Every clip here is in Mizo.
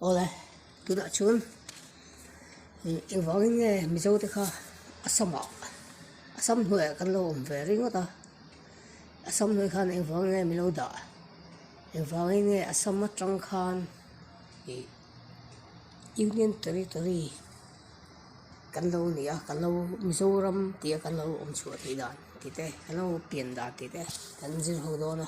Awle, tunah chuan engvangin nge Mizote kha Assamah, Assam hnuaia kan lo awm ve ringawt a, Assam hnuai khan engvangin nge min lo dah? Engvangin nge Assam atang khan ih Union Territory kan lo ni a, kan lo Mizoram tia kan lo awmchhuah tih dan tih te, kan lo pian dan tih te kan zir ho dawn a.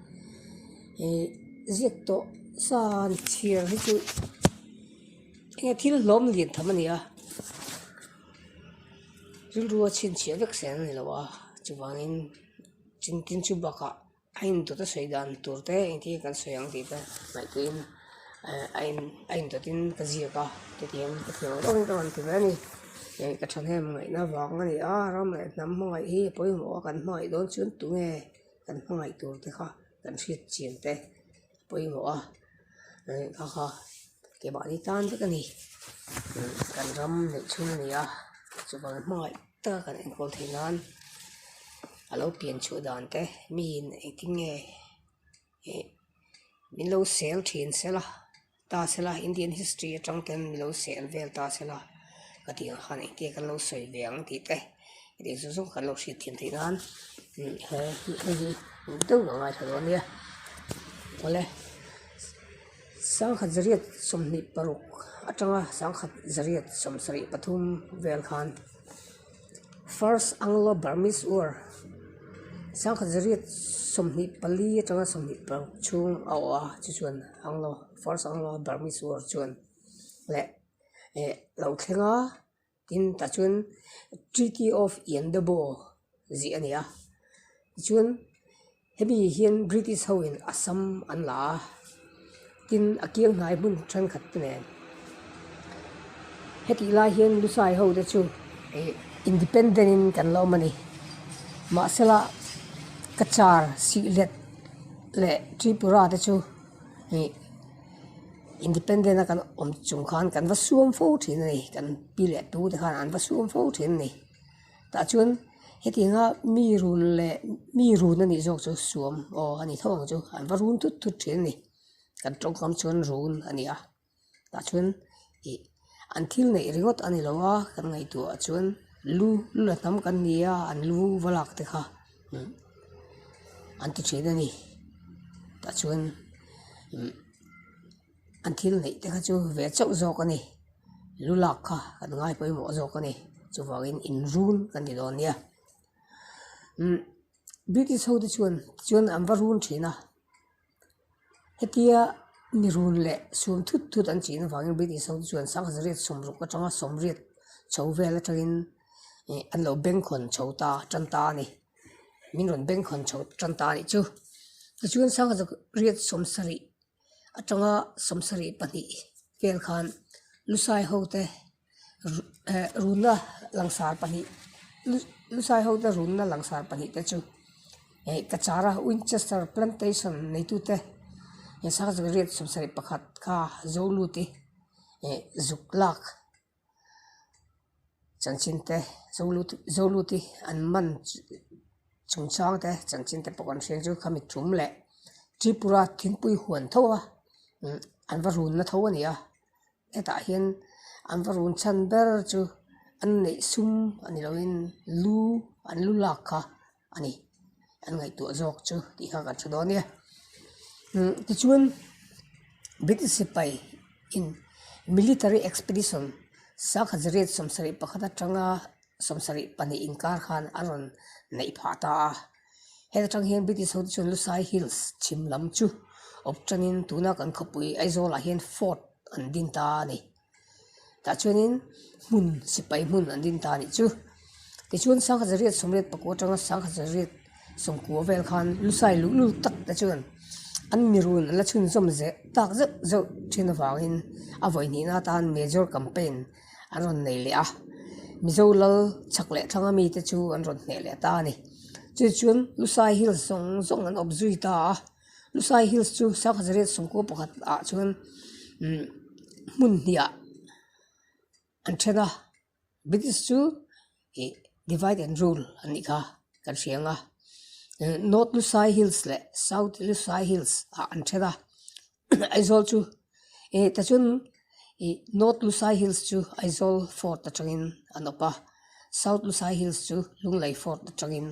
ihh ziak tawh sa an chhiar hi chu enge thil hlawm leh tham a nia rilru a chhinchhiah vek seh an ni lo a chuvangin chung tin chu bakah a indawt a sawi dan tur te engtin kan sawi ang tih te hmaih tiin ehh a in a indawt in ka ziak a hetiang ka hria lawm lawm a ni ti mai a ni eh ka thahnem ngaihna vang a ni a ram leh hnam hmangaih hi a pawimawh a kan hmangaih dawn chuan tunge. kan hmangaih tur te kha kan hriatchian te pawimawh a rehkha kha ke mahni tan vek a ni kan ram neih chhung a ni a chuan hmangaih taka kan enkawl thei nan a lo pian chhuah dan te mi in engtin nge ih min lo sel thin sel a. ta sela Indian history atang ten min lo seh vel ta sela ka tih ang khan engtiang kan lo sawi ve ang tih te i tih chu chu kan lo hriat thiam theih nan he hei hi eng deuh lo ngaithla lo nia awle sangkhat zariat sawmhnih paruk atanga sangkhat zariat sawmsarih pathum vel khan-- First Anglo-Burmese War, sang khat zariat sawmhnih pali atanga sawmhnih paruk chhung a awh a, chu chuan Anglo, First Anglo-Burmese War chuan leh eh lo thleng a, tin tah chuan Treaty of Yandabaw zih a ni a, tichuan. Hemi hian British hoin Assam an la a, tin a kianghai hmun thenkhat te nen hetih lai hian Lusai ho te chu ih independent in kan la awm a ni. Mahsela Kachar, Sylhet leh Tripura te chu ih independent a kan awm chung khan kan va suam fo thin a ni, kan pi leh tu te khan an va suam fo thin a ni. tah chuan heti anga mi run leh mi run a nih zawk chu suam aw a ni tho ang chu an va run thut thut thin a ni kan tawngkam chuan run a ni a tah chuan ih an thil neih ringawt a ni lo a kan ngaihtuah ah chuan lu lu la hnam kan ni a an lu va lak te kha umm an ti thin a ni tah chuan umm-- An thil neih te kha chu ve chauh zawk a ni, lu lak kha kan ngai pawimawh zawk a ni, chuvangin in run ka ni dawn nia umm British ho te chuan tichuan an va run thin a, hetia mi run leh sum thut thut an chihna vangin British ho te chuan sangha za riat sawm ruk atanga sawm riat chho vel atangin ih an lo beng khawn chho ta tan ta a ni, min rawn beng khawn chho tan ta a nih chu, tichuan sangha za riat sawm sarih. atanga sam sarih pahnih vel khan lu sai ho te eh runna langsar pahnih lu lu sai ho te runna langsar pahnih te chu eh kachara winchester plantation neitu te eh sang zi riat sam sarih pakhat kha zawng lut hi eh zuk lak-- Chanchinte, Zulu te, Zulu te an man chungchang te, Chanchinte pawh kan hriat chu kha mi tum leh Tripura thingpui huan tho a an va runna tho a ni a, hetah hian an va run chhan ber chu an neih sum a ni loin lu an lu lak kha. a ni an ngaihtuah zawk chu tih kha kan hre dawn nia umm tichuan british sipai in military expedition sang khat zariat sawmsarih pakhat atanga sawmsarih pahnih inkar khan a rawn naih phah ta a heta tang hian british ho te chuan lusai hills chhim lam chu awp tanin tuna kan khawpui aizawl ah hian fort an din ta a ni. tah chuanin hmun sipai hmun an din ta a nih chu tichuan sangha zarhriat sawmriat pakua atanga sangha zarhriat sawmkua vel khan lusai luh luh tak te chuan an mirun an la chhunzawm zeh tak zeuh zeuh thin avangin a vawi hnihna atan Major campaign an rawn nei leh a Mizo lal chak leh thlanga mite chu an rawn hneh leh ta a ni chu chu lusai hi zawng zawng an awp zui ta a. Lusai hills chu sanghazae rel sawmkaw pakhat ah chuan umm hmun hniah an then a british chu ih divide and rule an ni kha kan hreng a eh north lusai hills leh south lusai hills ah an then a aizawl chu-- eh ta chuan ih north lusai hills chu aizawl fort atangin a nawp a south lusai hills chu lunglei fort atangin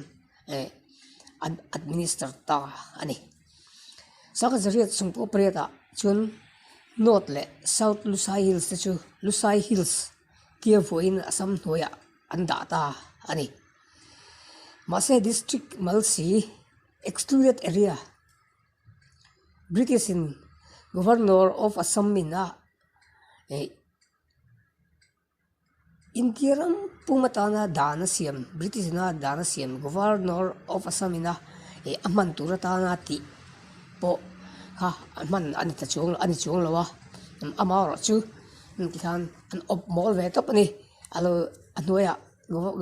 eh an administer ta a ni sangha zariat sawmpakhat pariatah chuan north leh south lusai hills te chu lusai hills tia vuahin a sam hnuaiah an dah ta a ni mahse district malsi excluded area -- British in Governor of Assam min a eh India ram pum atana dan a siam British ina dan a siam Governor of Assam ina eh a hman tur atana tih pawh kha a hman a ni ta chuang a ni chuang lo a amaherawhchu heti khan an awp mawl ve tawp a ni a lo a hnuaiah--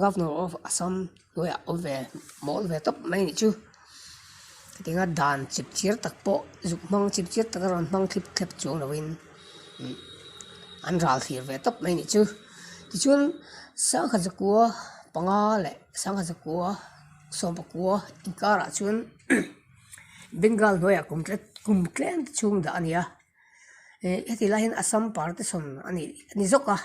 governor of assam lawyer a awm ve mawl ve tawp mai ni chu tiga dan chhip chhir tak pawh zuk hmang chhip chhir tak a rawn hmang thlip thlep chuang lo in an ral thlir ve tawp mai ni chu tichuan sangha zakua panga leh sangha zakua sawmpakua inkar ah chuan bengal hnuaia kum tlat kum tlem te chhung dah a ni a heti lai hian assam par te sawm a ni zawk a.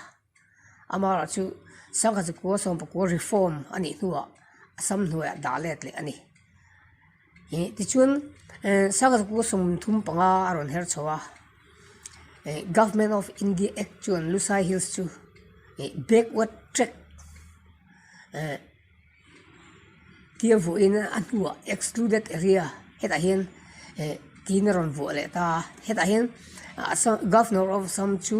Amara chu sangha zikua sawmpakua reform a nih hnuah a sam hnuaia dah let leh a ni. Ih tichuan eh sangha zikua sawmthum panga a rawn her chho a. Eh government of india act chuan lusai hills chu eh backward track eh-- Thil vuahin a hnua excluded area hetah hian eh tiin a rawn vuah leh ta a hetah hian ah assam governor of assam chu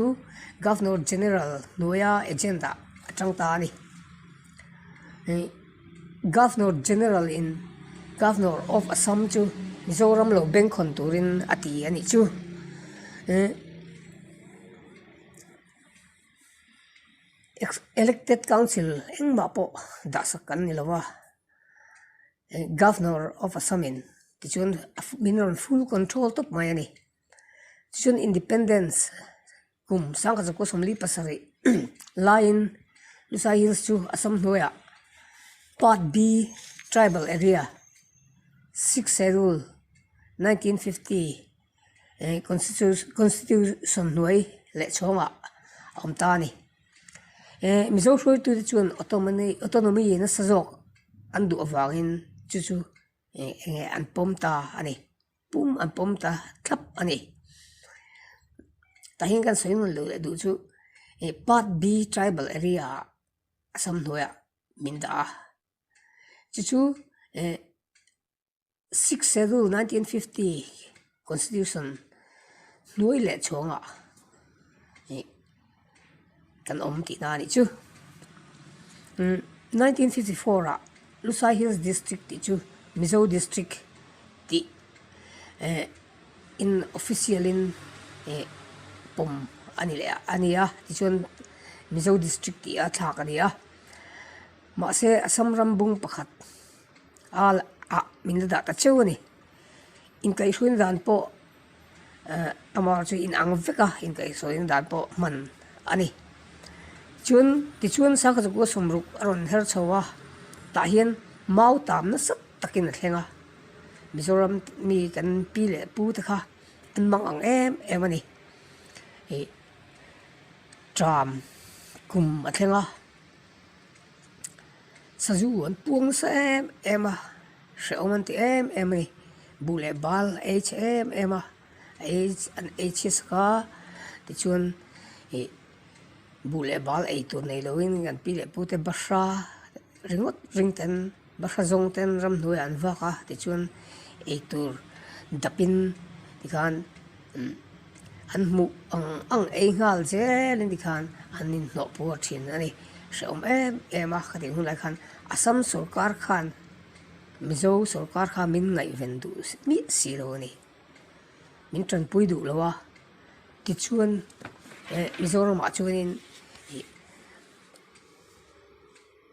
governor general hnuaia agent ah a chang ta a ni ih governor general in governor of assam chu mizoram lo beng kawn turin a ti a nih chu eh-- elected council engmah pawh dahsak kan ni lo va eng governor of assam in tichuan a min a rawn full control tawp mai a ni chuan independence kum sangkhaza kawsawmli pasarih laiin luhsai hills chu assam hnuaiah part B tribal area six schedule nineteen fifty . eng constitution hnuai leh chhawngah a awm ta a ni ehh mizo hruaitute chuan autonomy nasa zawk an duh avangin chu chu eng eng nge an pawm ta a ni pum an pawm ta thlap a ni tah hian kan sawi ngaih loh leh duh chu eng part B tribal area ah assam hnuaiah min dah a chu chu ehh-- sixth schedule nineteen fifty constitution hnuai leh chhawngah ih kan awm tih na a nih chu umm nineteen fifty four ah lusai hills district tih chu mizo district tih eh in official in ih pawm a ni leh a nia tichuan mizo district tih a thlak a ni a mahse assam ram bung pakhat-- Al ah min la dah ta cheu a ni. Inkaihruin dan pawh ehh amar chu in ang vek a inkaihsawiin dan pawh hman a ni. Chuan tichuan Sanghachaku'a sumruk a rawn her chho a, tah hian mau tam nasat takin a thleng a. Mizoram mi kan pi leh pu te kha an mang ang em em a ni. Ih tram kum a thleng a. Sazu an puang nasa em em a, hrehawm an ti em em a ni, buh leh bal a ei chhe em em a, a ei an ei chhiasak a, tichuan ih buh leh bal ei tur nei lohin an pi leh pute basha ringawt ringte an-- Bafra zawng ten ramhnuaiah an vak a tichuan eitur dapin tikhan an hmuh ang ang ei nghal zel in tikhan an inhnawh puar thin a ni. Hrehawm em em a ka tih hunah khan Assam sawrkar khan Mizo sawrkar khan min ngaihven duh miah si lo a ni. Min tanpui duh lo a tichuan Mizoramah chuan in ih--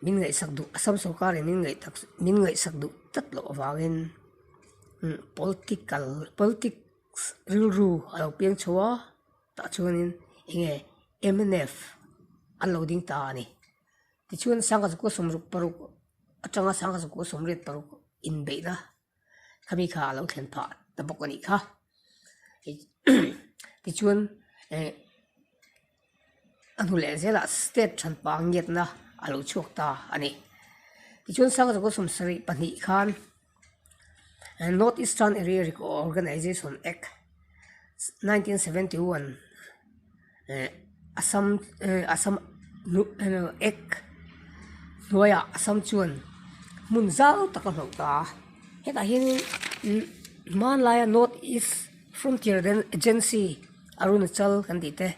Min ngaihsak duh, Assam sawrkarin min ngaih tak, min ngaihsak duh tlat loh avangin political, politics rilru a lo peng chho a, tah chuanin eng nge mnf an lo ding ta a ni. Tichuan, Sangha Zakwawsawm ruk paruk atanga Sangha Zakwawsawm riat paruk inbeihna khami kha a lo thlen phah ta bawk a nih kha tichuan eh a hnu leh zela state than pang ngiat na a lo chhuak ta a ni tichuan sang rogo sawm sarih pahnih khan eh north eastern area organization act nineteen seventy one -- eh a sam eh a sam hnuh eh ek hnuaiah a sam chuan hmun zau tak a hlauh ta a hetah hianin imm hmanlaia north east frontier rel agency arunachal kan tih te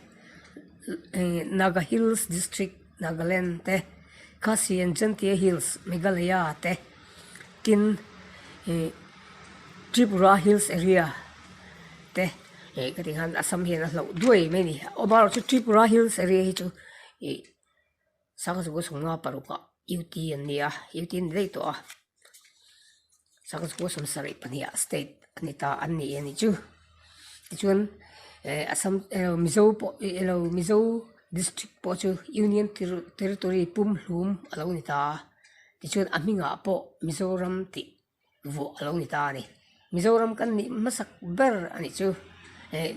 eh naga hills district . Nagaland te Khasi and Jantia Hills, Meghalaya te tin ih Tripura Hills area te ih ka ti khan Assam hian a hlo duai mai a ni. A awm erawh chu Tripura Hills area hi chu ih Sangha Sungha Paruk ah UT an ni a, UT a ni daih tawh a. Sawmsawm sarih pahnih ah state a ni ta an ni e ni chu tichuan eh assam erawh mizo pawh ih ilo mizo district pawh chu union tiri territory pumhlum a lo ni ta a tichuan a hnungah pawh mizoram tih vuah a lo ni ta a ni mizoram kan nih hmasak ber a nih chu eh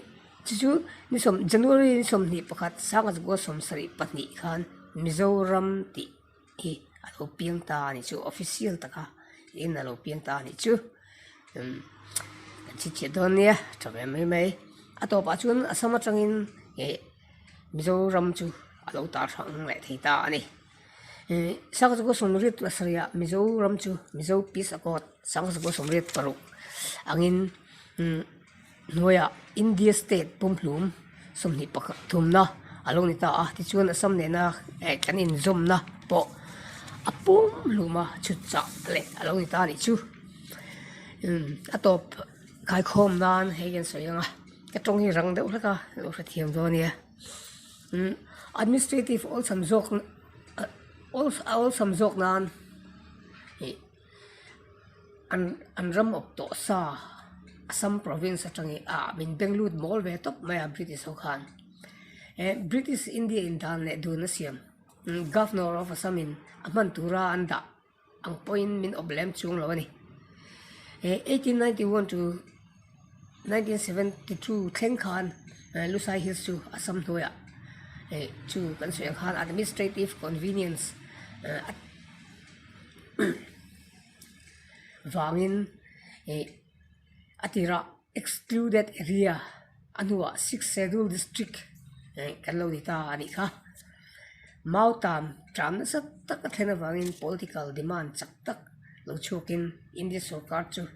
chu chu ni sawm january ni sawmhnih pakhat sangha tukua sawmsarih pahnih khan mizoram tih-- hi a lo piang ta a ni chu official taka in a lo piang ta a ni chu umm kan chhipchhiah dawn nia tha hle mai mai a tawpah chuan assam atangin ih mizoram chu a lo tar hrang leh thei ta a ni ih sanghazago sawmriat pasarih ah mizoram chu mizo peace accord sanghazago sawmriat paruk angin umm-- hnuaia India state pumhlum sawmhnih pakhat thumna a lo ni ta a tichuan Assam nena eh kan inzawmna pawh a pumhluma chutchah leh a lo ni ta a nih chu imm a tawp kaikhawm nan hei hi an sawi ang a ka tawng hi rang deuh hlek a ka lo hrethiam dawn a nia imm administrative awlsam zawk awlsam zawk nan ih-- an ram awp tawh sa assam province atangin ah min beng lut bawr ve tawp mai a british ho khan eh british india in dan leh dun a siam governor of assam in a hman tura an dah ang pawhin min awp lem chhung lo a ni eh eighteen ninety one to nineteen seventy two thleng khan Lusai Hills chu Assam hnuaia ih chu kan sawi ang khan administrative convenience vangin ih a tirah excluded area a hnunah six schedule district kan lo ni ta a nih kha mau tan tan nasa tak a thlen avangin political demand chak tak lo chhuakin India sorkar chu--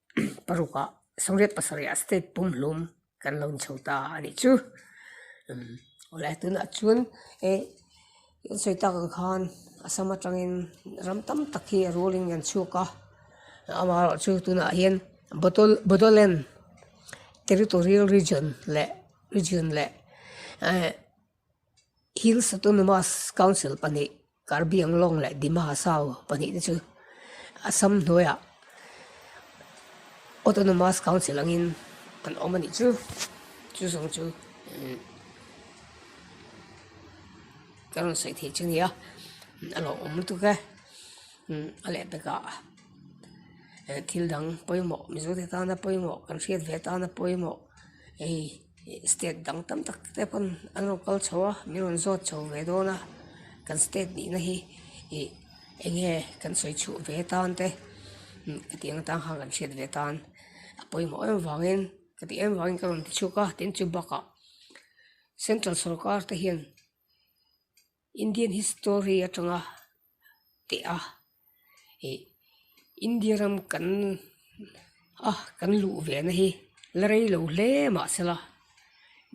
parukah sawmriat pasarihah state pumhlum kan lo inchho ta a nih chu khawlai tunah chuan he an sawi tak ang khan assam atangin ram tam tak hi a rualin an chhuak a amaherawhchu chu tunah hian bodoland territorial region leh region leh . Hills Autonomous Council pahnih, Karbi Anglong leh Dima Hasao pahnih te chu Assam hnuaiah Autonomous Council angin an awm a nih chu, chu zawng chu ka rawn sawi thei chu a nia, a lo awm lutuk e, a leh takah thil dang pawimawh, Mizo te tana pawimawh, kan hriat ve a tana pawimawh, hei. state dang tam tak te pawn an rawn kal chho a min rawn zawt chho ve dawn a kan state nihna hi ih eng nge kan sawi chhuh ve tan te hm ka tih ang atan khan kan hriat ve tan a pawimawh em avangin ka tih em avangin ka rawn ti chhuak a tin chu bakah central sawrkar te hian-- Indian history atanga teh a ih India ram kan a kan luh ve na hi la rei lo hle mah se la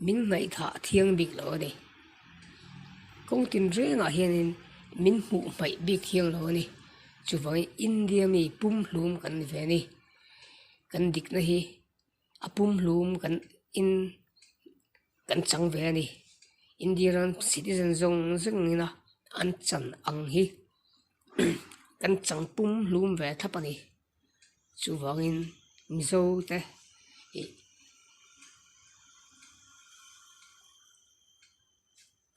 min ngaihthlak thiang bik lo a ni kawng tin reng ah hian in min hmuh hmaih bik thiang lo a ni chuvang in India mi pumhlum kan ni ve a ni kan dik na hi-- a pumhlum kan in kan chang ve a ni india ram citizen zawng zeng in a an chan ang hi kan chang pumhlum ve thlap a ni chuvangin mizo te ih--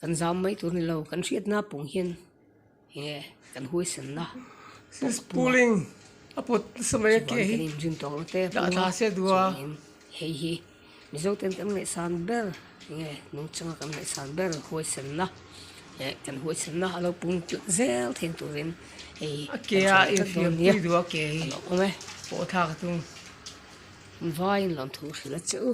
Kan zam mai tur ni lo, kan hriatna pawng hian enge kan huaisen la. Puling a put nasa mai a keh hi. Chuan kan inzin tawh loh te a pung a. Dah ta se duh a. Chuan in hei hi Mizo ten kan ngaihsan ber enge nung changa kan ngaihsan ber huaisen na leh kan huaisen na a lo pung tlat zel thei turin hei hi. A ke a infiam pui duh a ke hi. A lo awm e. Pawh thlak a tum. Vaiin lo thu hrilh a che u.